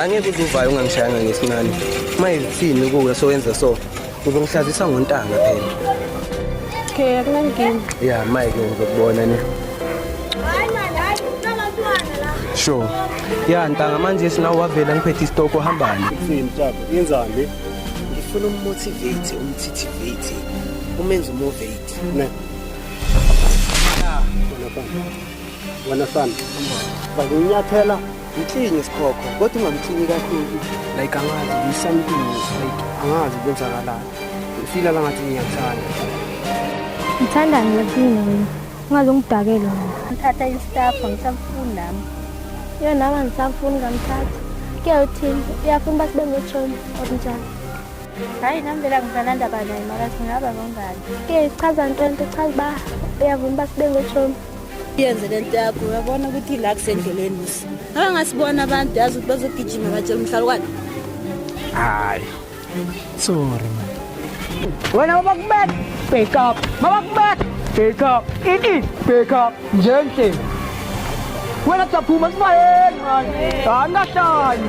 angeke uzuvayo ungangishayanga ngesinani uma izithini kuwe sowenza so uzongihlazisa ngontanga phela okay akunankinga ya mike ngizokubona ne sure ya ntanga manje sinawo wavela ngiphethe isitoko hambani yenzani ngifuna ummotivate umthitivate umenze umovate ne wena sana wena sana bakunyathela Mklinye isikhokho kodwa ungamklinyi kakhulu. Like angazi do something like angazi kwenzakalani. Ngifila langathi ngiyakuthanda. Ngithanda ngiyakini wena. Ungaze ungidakele mina. Ngithatha istaff ngisafuni nami. Yona nami ngisafuni ngamthatha. Kuyawuthini? Uyafuna uba sibe ngotshomi okunjani? Hayi nami vele angisanandaba naye mara singaba ngongani. Ke ichaza nto nto ichaza uba uyavuma uba sibe ngotshomi. yenze le nto yakho uyabona ukuthi ila kusendleleni musa abangasibona abantu yazi ukuthi bazogijima batshela umhlalukwane hayi sorry man wena babakubeka back up babakubeka back up ini back up njenhle wena kusaphuma sibayeni mani angahlali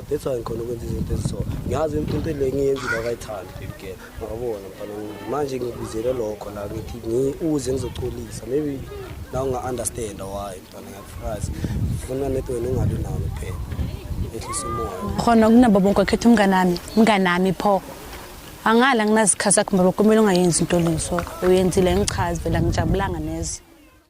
that's why ngikhona ukwenza izinto eziso ngiyazi into le ngiyenzile akayithandi baby girl ngabona mfana manje ngibuzele lokho la ngithi ngiuze ngizocolisa maybe la unga-understand why mfana ngiyakufrazi ngifuna net wena ungabi nawo kuphela ehlisa umoya khona kunabo bonke wakhetha umnganami mnganami pho angala nginazikhathi akhe mbobo kumele ungayenzi into lezo uyenzile ngichazi vela ngijabulanga neze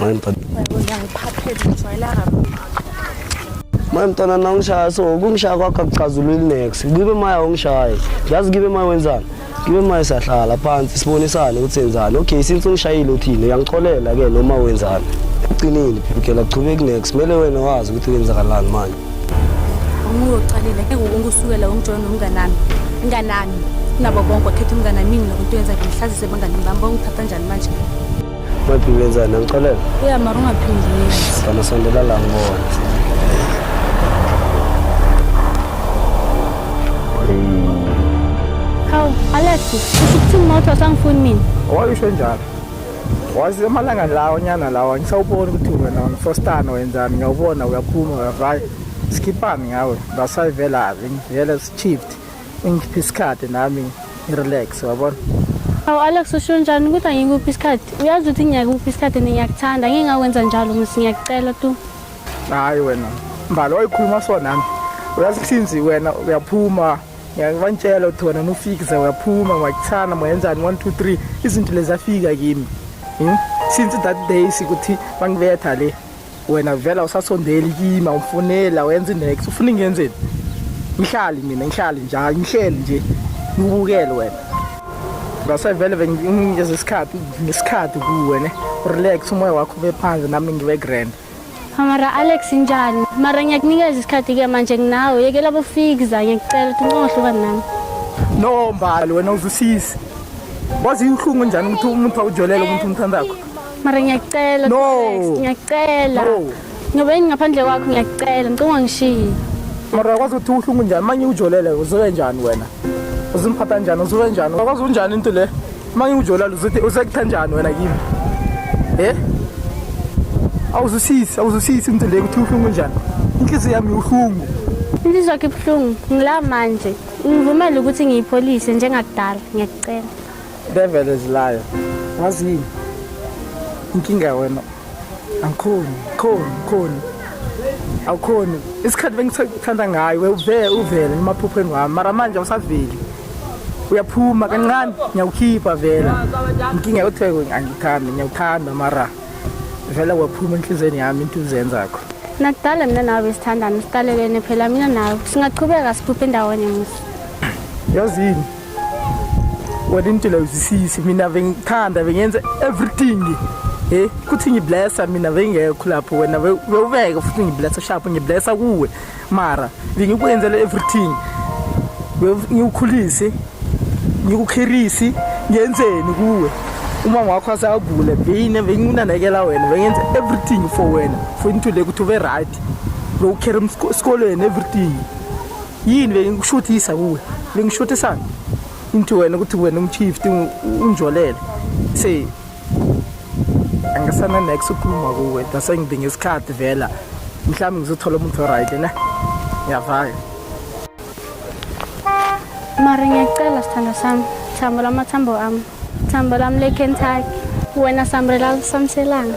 Maye mntana. Maye mntana nawungishaya so kungishaya kwakho akuchazululi next. Ngibe maya ungishaye. Yazi ngibe maya wenzani? Ngibe maya siyahlala phansi sibonisane ukuthi enzani. Okay since ungishayile uthini uyangixolela ke noma wenzani. Uqinile phikela qhubeki next. Kumele wena wazi ukuthi kwenzakalani manje. Umuntu ocalile ke ngokusukela umjoyina nomnganami. Inganami. Nabo bonke wakhetha umnganami mina nokuthi wenza ngihlazise bangani bami bangithatha njani manje. Mathi ngenzani angixolela? Yeah, mara ungaphindi yenze. Kana sondela la ngibona. Hawu, Alex, usho ukuthi umoto asangifuni mina. Wayisho njalo. Wazi emalanga lawo nyana lawo ngisawubona ukuthi wena unfostana wenzani ngiyawubona uyaphuma uyavaya. Sikhipani ngawe. Basayivela vele shift. ingiphi isikhathi nami ngirelax wabona awu alex usho njani ukuthi angikuphi isikhathi uyazi ukuthi ngiyakuphi isikhathi and ngiyakuthanda ngingakwenza njalo msi ngiyakucela tu hayi wena mbali wayikhuluma so nami uyazi sinzi wena uyaphuma ngiyakubantshela ukuthi wena nufikize uyaphuma ngiyakuthanda muyenzani one two three izinto lezafika kimi hmm? since that day sikuthi bangibetha le wena vela usasondeli kima ufunela wenza inext ufuna ingenzeni ngihlali mina ngihlali njalo ngihleli nje ngibukele wena ngasevele benginikeza isikhathi ngesikhathi kuwe ne relax umoya wakho ube phansi nami ngibe grand Amara Alex njani? Mara ngiyakunikeza isikhathi ke manje nginawe. Yekela bofikza ngiyacela ukuthi uncohlukane nami. No mbali wena uzusisi. Wazi inhlungu njani ukuthi umuntu awujolele umuntu umthandakho? mara ngiyacela No. Alex, ngiyacela No. ngoba yini ngaphandle kwakho ngiyacela ngicela ungangishiyi mara uyakwazi ukuthi uhlungu njani manye ujolele uzobe njani wena uzimphatha njani uzobe njani uyakwazi unjani into le manye ujolele uzothi usekutha njani wena kimi e awuzwisisi awuzwisisi into le ukuthi uhlungu njani inhliziyo yami uhlungu inhliziyo yakho ibuhlungu ngila manje ngivumele ukuthi ngiyipholise njengakudala ngiyacela Devil is liar. Wazini? Inkinga wena. Angikhoni, khoni, khoni. Awukhoni. Isikhathi bengithanda ngayo wevele uvele emaphupheni wami. Mara manje awusaveli. Uyaphuma kancane ngiyakukhipha vele. Inkinga yotheko angithandi, ngiyakuthanda mara vele waphuma enhlizweni yami into uzenzakho. Nakudala mina nawe sithandana, siqalelene phela mina nawe. Singaqhubeka siphuphe ndawonye musa. Yazini? wena intula uzisisi mina bengithanda bengenza everything he kuthi ngiblessa mina bengekho lapho wena bewubeke futhi ngiblessa sharp ngiblessa kuwe mara bengikwenzela everything ngikukhulise ngikukhirisi ngenzeni kuwe uma wakho asagule beyine benginanekela wena bengenza everything for wena for into le ukuthi ube right bewukhera esikolweni everything yini bengikushuthisa kuwe bengishuthisa into wena ukuthi wena umchief unjolele say angisana next ukukhuluma kuwe dase ngidinga isikhathi vela mhlawumbe ngizothola umuntu right ne ngiyavaya mara ngiyacela sithando sami thambo lamathambo ami thambo lami lekentucky wena sambrela samselanga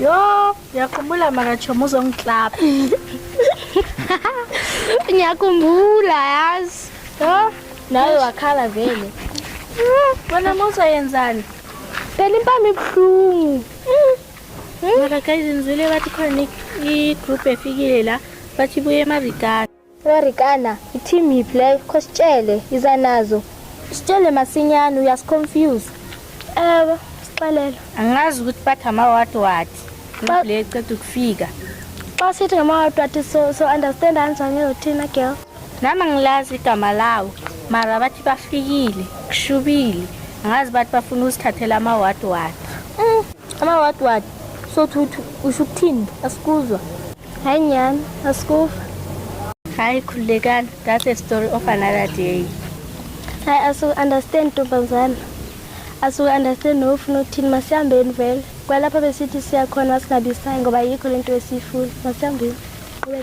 Yo, yakhumbula makachomo uzongiklapha. Ngiyakhumbula yazi. Yo, nawe wakhala vele. Wena musa yenzani? Phela impama ibuhlungu. Maka guys nizwile bathi khona i-group efikile la bathi buye emarikani. Warikana, i-team yiphi leyo? Khositshele, iza nazo. Sitshele masinyane uyasiconfuse. Ewe, sixelele. Angazi ukuthi bathi amawati wati. Xa- Le eceda ukufika. Xa sithi ngamawatu athi so so understand kanjani ezo thina girl. Nami angilazi igama lawo. Mara bathi bafikile, kushubile. Angazi bathi bafuna usithathela amawati wati. Mm, amawatu wati. So thuthi usho ukuthini? Asikuzwa. Hi Nyan, Askufa. Hi Kulekan, that's a story of another day. Hi Asu, understand Tumbazana. Asu, understand no ufuna uthini masihambeni vele. Kwalapha besithi siya khona singabisayi ngoba yikho lento esifuna. Masihambeni. Ube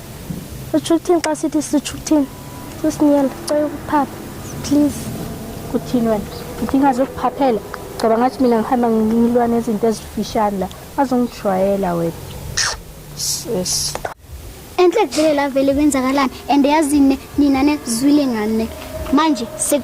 Usho ukuthini xa sithi sisho ukuthini? Sisinyela, cela ukuphapha. Please. Kuthini wena? Udinga zokuphaphela? Ngoba ngathi mina ngihamba ngilwa nezinto ezifishane la. Azongijwayela wena. Sis. Enhle kuvele la vele kwenzakalani and yazini nina nezwile ngane. Manje sek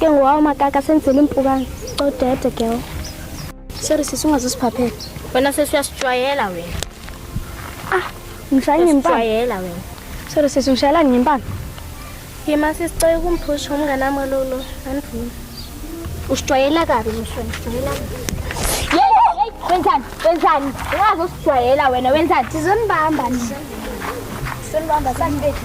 Ke ngowawo makaka senzela impukane. Codede girl. Sorry sisi ungazosiphaphela. Wena sisi uyasijwayela wena. Ah, ngishaya ngempama. Uyasijwayela wena. Sorry sisi ngishayela ngempama. Yima sisi cela ukumphusha umngane wami lolo. Andivumi. Usijwayela kabi mshwana, usijwayela kabi. Wenzani? Wenzani? Ungaze usijwayela wena, wenzani? Sizonibamba nje. Sizonibamba sanibethu.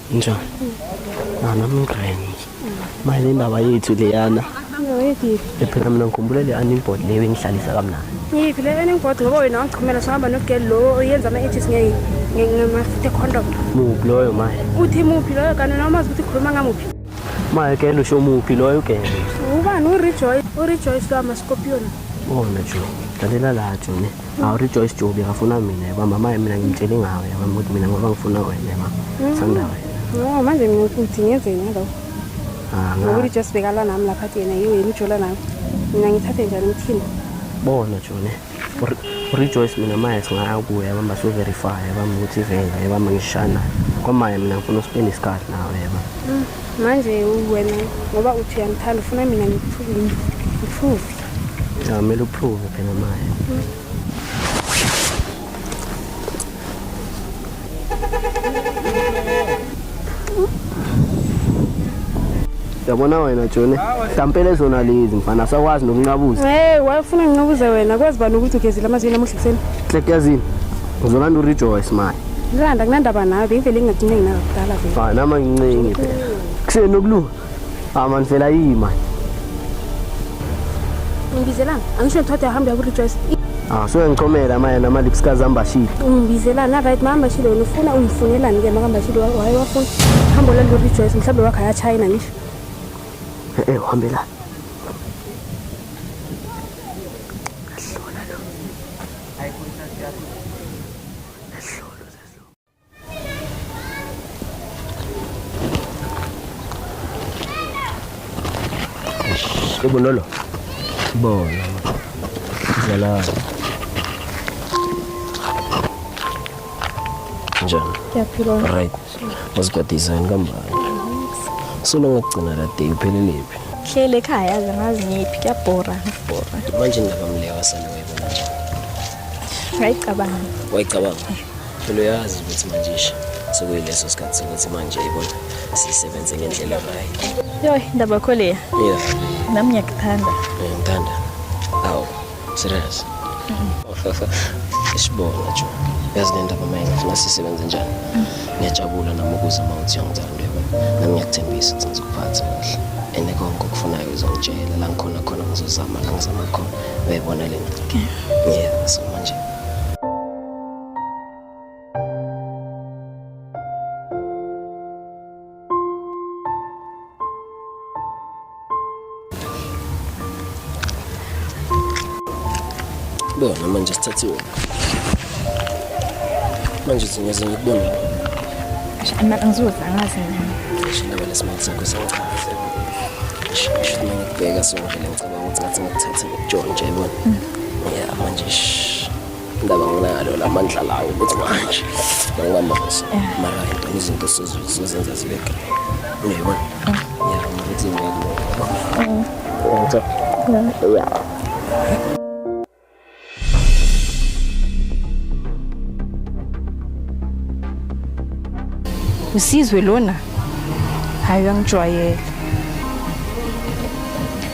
Njani? Nana mngani. Manje indaba yethu leyana. Phela mina ngikhumbule le unemployed leyo engihlalisa kamnandi. Ngiphi le unemployed ngoba wena wangichumela sihamba nogirl lo oyenza ama edges ngeke ngamafuthe condom. Muphi loyo manje? Uthi muphi loyo kanti noma umazi ukuthi ukhuluma ngamuphi? Manje girl usho muphi loyo girl? Ubani uRejoice? URejoice lo ama scorpion. Oh najo. Dalela la Joni. Hawu Rejoice Jobi ngafuna mina yaba mama yami mina ngimtshele ngawe yaba ukuthi mina ngoba ngifuna wena yaba sanda wena. No manje mina ukuthi ngenzeni ngalo. Ah Ngoba ngathi Rejoice bekalwa nami lapha athi yena yiyo yena ujola nami. Mina ngithathe njani umthini? bona Jone. Rejoice mina maye singaya kuye yaba baso verify yaba ukuthi vele yaba ngishana. Kwamaye mina ngifuna uspend isikhathi nawe yaba. Manje wena ngoba uthi uyangithanda ufuna mina ngiphume. Ngiphume. Ya mele uprove phela manje. Yabona wena Jone, mhlawumbe lezona lezi mfana sakwazi nokunqabuza. Hey, wayefuna nginqabuze wena, kwazi bani ukuthi ugezile amazinyo namuhla ekuseni? Klekyazini. Uzolanda urejoice manje. Ngilanda kunandaba nawe, bengivele ngingagcine nginakudala vele. Fana mangincingi phela. Kuseni okulunga. Ah man vela yini man. Ngibizelana. Angisho ngithathe ahambe ya rejoice. Ah so ngicomela manje nama lips kazamba shile. Ngibizelana right mama shile wena ufuna ungifunelani ke makamba shile waye wafuna. Hambo la rejoice mhlawumbe wakhe ya China ngisho. Eh, eh uhambela. Kebonolo. Bona. Zala. Njani? Ngiyaphila. Right. Uzigadisa yini kambani? Solo ngokugcina la day upheleliphi? Hlele ekhaya yazi ngazi ngiphi kuyabhora ngibhora. Manje ndaba mlewa sana wayibona njani? Ngayicabanga. Wayicabanga. phela uyazi ukuthi manje isho sekuyileso sikhathi sokuthi manje ibona sisebenze ngendlela right yoy ndaba yakho leya yeah nami ngiyakuthanda Eh, ngithanda awu serious isibona jo yazi le ndaba maye ngifuna sisebenze njani ngiyajabula nami ukuze uma uthi uyangithanda uyabona nami ngiyakuthembisa ukuthi ngizokuphatha kahle ene konke okufunayo uzongitshela la ngikhona khona ngizozama la ngizama khona uyayibona le nto yeah so manje Bona manje sithathiwe. Manje singaze ngikubone. Ama angizoza angazi mina. Shindaba lesimali sakho sengichaze. Shindaba ngikubheka sonke ngicabanga ukuthi ngathi ngikuthathe ngikujonge nje yabona. Yeah, manje shh. indaba nginalo la mandla lawo ukuthi manje mangingamazisa mara ngicela izinto sizozenza zibe grey uyayibona ngiyabona ukuthi ngeke ya usizwe lona hayi uyangijwayela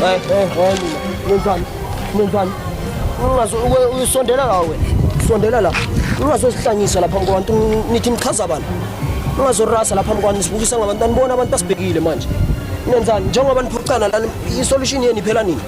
Hey, hey, hey, Nenzani? Nenzani? Ungazo uyisondela la wena. Sondela la. Ungazozihlanyisa lapha kwabantu nithi nichaza bani? Ungazorasa lapha kwabantu sibukisa ngabantu anibona abantu basibhekile manje. Nenzani? Njengoba niphucana la isolution yenu iphela nini?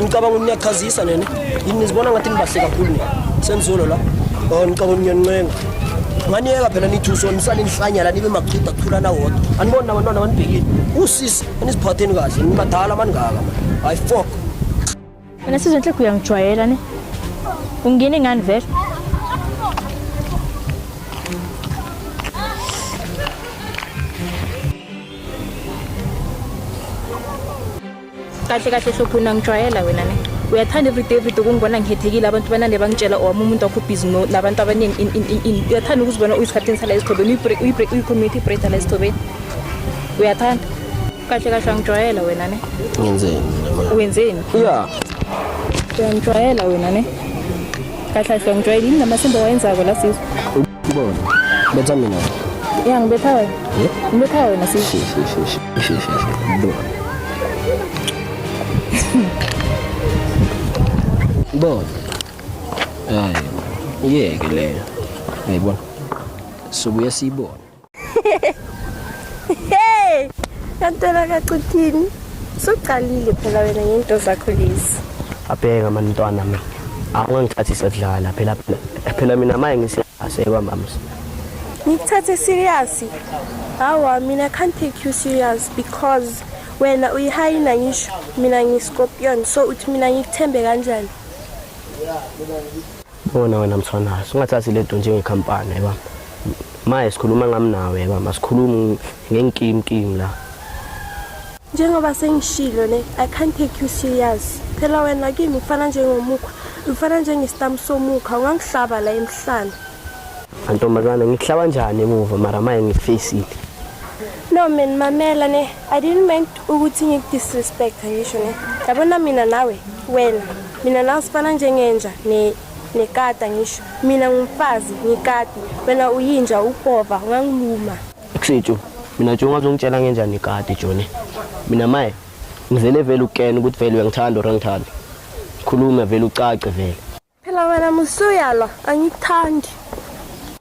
Ngicabanga ukuthi niyachazisa nene. Yini nizibona ngathi nibahle kakhulu nina. Senzolo la. Oh ngicabanga ukuthi niyancenga. Nganiyeka phela nithi usonisana inhlanyala nibe makuchitha kuthula na wodwa. Anibona abantwana banibhekile. Usisi aniziphatheni kahle nibadala maningaka manje. Hayi fuck. Wena sizwe inhlekhu uyangijwayela ne. Ungene ngani vele? kahle kahle hlophuna ngijwayela wena ne uyathanda everyday everyday ukungibona ngihethekile abantu banande bangitshela owami oh, umuntu wakho ubhizi nabantu abaningi uyathanda ukuzibona uyisikhathini sala esithobeni uyi-community breda la esithobeni uyathanda kahle kahle angijwayela wena ne wenzeni wenzeni ya uyangijwayela wena ne kahle kahle ngijwayele yini namasimba wayenzako la sizwe ubona betha mina ya ngibetha wena ngibetha wena sizwe bona hayi yeke leyo ayibona sobuya siyibona hey kantela kacuthini suqalile phela wena ngento zakho lezi abheka mantwana mina angangithathi sekudlala phela phela mina maye ngiseyasekwa mams ngikuthathe serious hawa mina can't take you serious because wena uyihayina ngisho mina ngiscorpion so uthi mina ngikuthembe kanjani Bona wena mfana, singathathi lento njengekhampani yeba. Maye sikhuluma ngami nawe yeba, masikhulume ngenkimkim la. Njengoba sengishilo ne, I can't take you serious. Phela wena kimi ufana njengomukhwa, ufana njengestambu somukhwa, ungangihlaba la emhlane. Antombazane ngihlaba njani emuva mara maye ngifacile. No man, mamela ne, I didn't meant ukuthi ngikudisrespect ngisho ne. Yabona mina nawe, wena. mina nawe sifana njengenja ne nekata ngisho mina ngumfazi ngikati wena uyinja upova ungangiluma kusitsho mina nje ungazongitshela ngenjani ikati joni mina maye ngivele vele ukukena ukuthi vele uyangithanda or angithandi khuluma vele ucace vele phela wena musuyalwa angikuthandi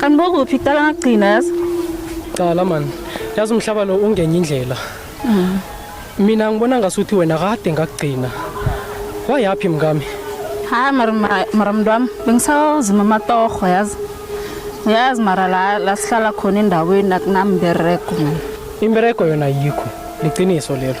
Kanti bokuphi kuqala ngakugcina yazi? Qala man. Yazi umhlaba lo ungenye indlela. Mhm. Mina ngibona ngasuthi wena kade ngakugcina. Wayaphi mngami? Ha mara mara mntu wami bengisawuzima amatoho yazi. Yazi mara la la sihlala khona endaweni akunambereko. Imbereko yona yikho. Liqiniso lelo.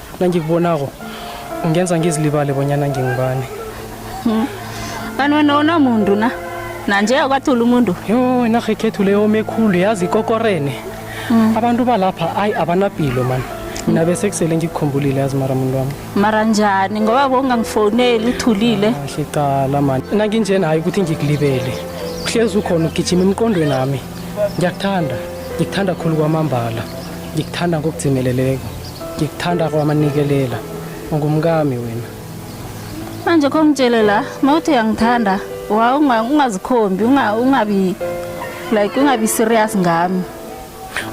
nangikubonako ungenza ngizilibale bonyana ngingibani hmm. kanti wena wona muntu na nanje akwathula umuntu yho inarha ekhethu leyo omekhulu yazi ikokorene hmm. abantu balapha ayi abanapilo mani mina bese kusele ngikukhumbulile yazi mara muntu wami mara njani ngoba bongangifoneli uthulile ah, kahle cala mani nanginjena hayi ukuthi ngikulibele uhlezi ukhona ugijima emqondweni nami ngiyakuthanda ngikuthanda khulu kwamambala ngikuthanda ngokudzimeleleko ngikuthanda kwamanikelela ungumkami wena manje kho ngitshele la mawuthi uyangithanda wa unga- ungazikhombi unga- ungabi like ungabi serious ngami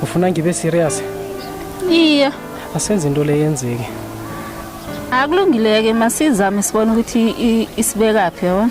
ufuna ngibe serious iye asenze into le yenzeke akulungileke masizame sibone ukuthi i- isibekaphi yabona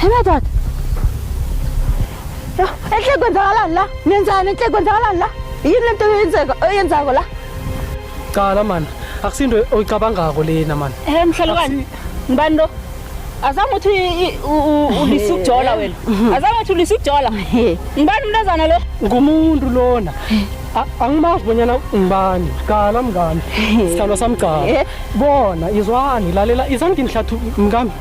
Hemedat. Enhle kwenzakalani la? Nenzani enhle kwenzakalani la? Yini lento yenzeka oyenzako la? Cala man, akusinto oyicabangako lena man. Eh mhlalukani. Ngibani lo? Azama uthi ulisa ukujola wena. Azama uthi ulisa ukujola. Ngibani umntazana lo? Ngumuntu lona. angimazi bonyana ngibani qala mngani sithando sami gcala bona izwani lalela izani nginihlathulula mngami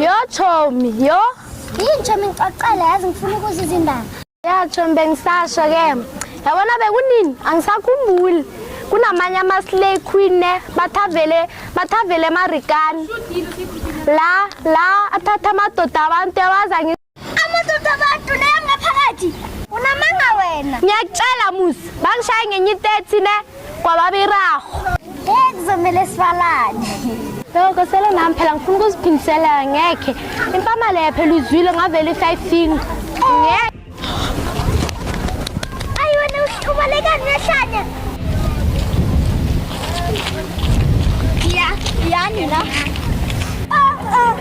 Yo Chomi, yo. Yini Chomi ngixoxela yazi ngifuna ukuza izindaba. Ya Chomi bengisasho ke. Yabona bekunini angisakhumbuli. Kunamanye ama slay queen ne bathavele bathavele marikani. La la athatha amadoda abantu yawaza ngi amadoda abantu neyangaphakathi unamanga wena ngiyakutshela musi bangishaye ngenye i-30 ne kwababiraho ngeke kuzomele sibalane Loko sele nami phela ngifuna ukuziphindisela ngekhe. Impama leyo phela uzwile ngavele i-five finger. Ngeke. Ayi wena ubaleka ngehlanya. Ya, yani la.